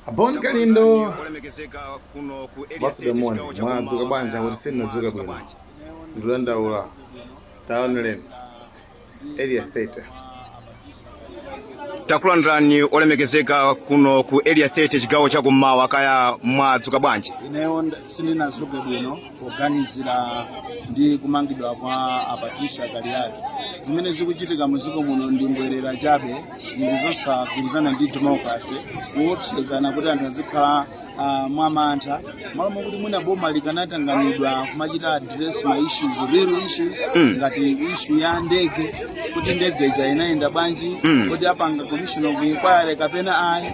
A Bon Kalindo basidamoni mwadzuka bwanji akuti sindinadzuke bwino ndikudandaula taoneleni area 30 takulandirani olemekezeka kuno ku area 30 chigawo cha kummawa kaya mwadzuka bwanji ineyo sindinadzuke bwino poganizira ndi kumangidwa kwa a Patricia Kaliati zimene zikuchitika muziko muno ndi mbwerera chabe zinthu zosagwirizana ndi democracy kuopsezana kuti anthu azikhala ah, mwamantha malo mokuti mwina boma likanatanganidwa kumachita address ma issues real issues Mm. ngati issue ya ndege kuti ndege ija inayenda bwanji Mm. kodi apanga commission of inquiry kapena ayi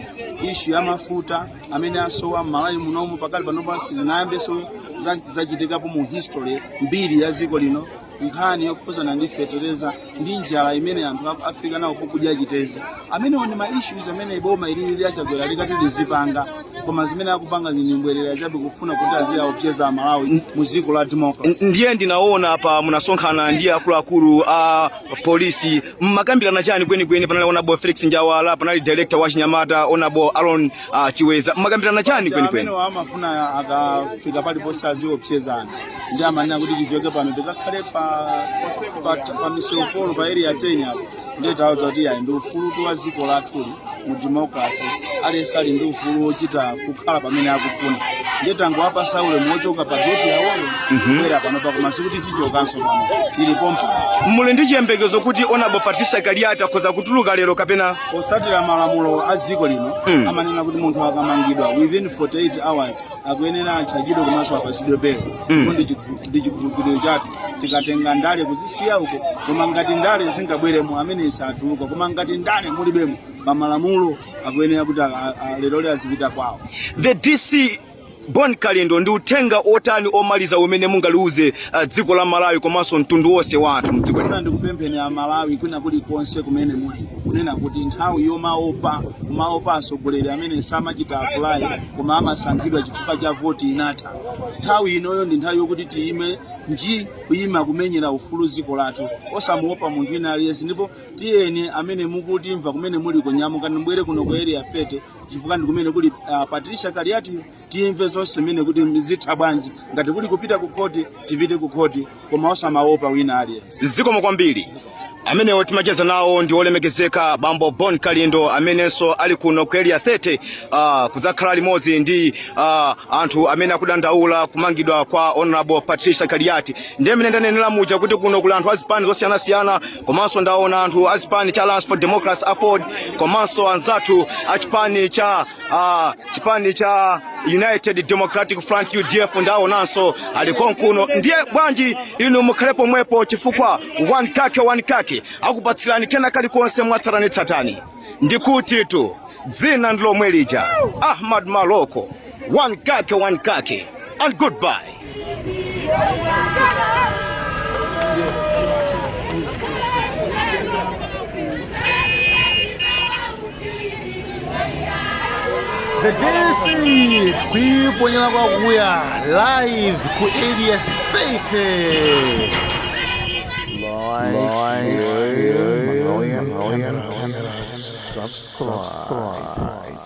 issue ya mafuta amene asowa m'malawi munomu pakali pano pano sizinayambenso za- zachitikapo mu history mbiri ya dziko lino nkhani yokhuzana ndi fetereza ndi njala imene anthu akuvutika nayo kukudya chitedze amenewo ndi ma issues amene boma ilili la a Chakwera likati lizipanga koma zimene akupanga ndi mbwerera chabe kufuna kuti aziyaopseza amalawi mu dziko la democracy ndiye ndinaona apa munasonkhana ndi akuluakulu a polisi mmakambirana chani kwenikweni? Panali onabo Felix Njawala, panali director wa Chinyamata onabo Alon uh, Chiweza, mmakambirana chani kwenikweni? Amene amafuna akafika paliponse aziopsezana ndi amanena kuti tichoke pano tikakhale pa pa, pa M'memo 4 pa area 10 apo ndiye tawuza kuti ayi ndi ufulutu wa dziko lathuli mu democracy aliyense ali ndi ufulu wochita kukhala pamene akufuna ndiye tangowapasa ulemu wochoka pa geti yawoyo kubwera panopa koma sikuti tichokanso pano tili pompa muli ndi chiyembekezo kuti onabo patricia kaliati akhoza kutuluka lero kapena potsatira malamulo a dziko lino Mm. amanena kuti munthu akamangidwa within 48 hours akuyenera atchajidwe komanso apasidwe belo Mm. ndipo ndi chikhulupiriro chathu tikatenga ndale kuzisiya uko koma ngati ndale zingabweremo mwina satuluka koma ngati ndale mulibemo pamalamulo akuyenera kuti a- a- a- lero lero azipita kwawo the dc bon kalindo ndi uthenga otani omaliza umene mungaliuze uh, dziko la malawi komanso mtundu wonse wa anthu mdziko lino ndikupempheni amalawi kwina kulikonse kumene muli kunena kuti nthawi yomaopa kumaopa atsogoleri amene samachita apply koma amasankhidwa chifukwa cha voti inatha nthawi inoyo ndi nthawi yokuti tiyime nji kuyima kumenyera ufulu dziko lathu osamuopa munthu wina aliyense ndipo tiyeni amene mukutimva kumene muli nyamukani mubwere kuno ku area 30 chifukwa ndi kumene kuli uh, patricia kaliati tidzamve zonse mmene kuti zitha bwanji ngati kuli kupita ku khoti tipite ku khoti koma osamaopa wina aliyense zikomo kwambiri amenewo timacheza nawo ndi olemekezeka bambo bon kalindo amenenso ali kuno ku area 30 uh, kuzakhala limodzi ndi uh, anthu amene akudandaula kumangidwa kwa honorable patricia kaliati ndiye mene ndanenera muja kuti kuno kuli anthu azipani zosiyanasiyana komanso ndaona anthu achipani cha alliance for democracy aford komanso anzathu achipani cha uh, chipani cha United Democratic Front UDF ndaonanso ali konkuno ndiye bwanji inu mukhale pomwepo chifukwa one kake one kake akupatsirani kena kalikonse mwatsatanetsatane ndikutitu dzina ndilomwe lija Ahmad Maloko one kake one kake and goodbye The DC kuiponyera kwakuya live ku area 30 subscribe.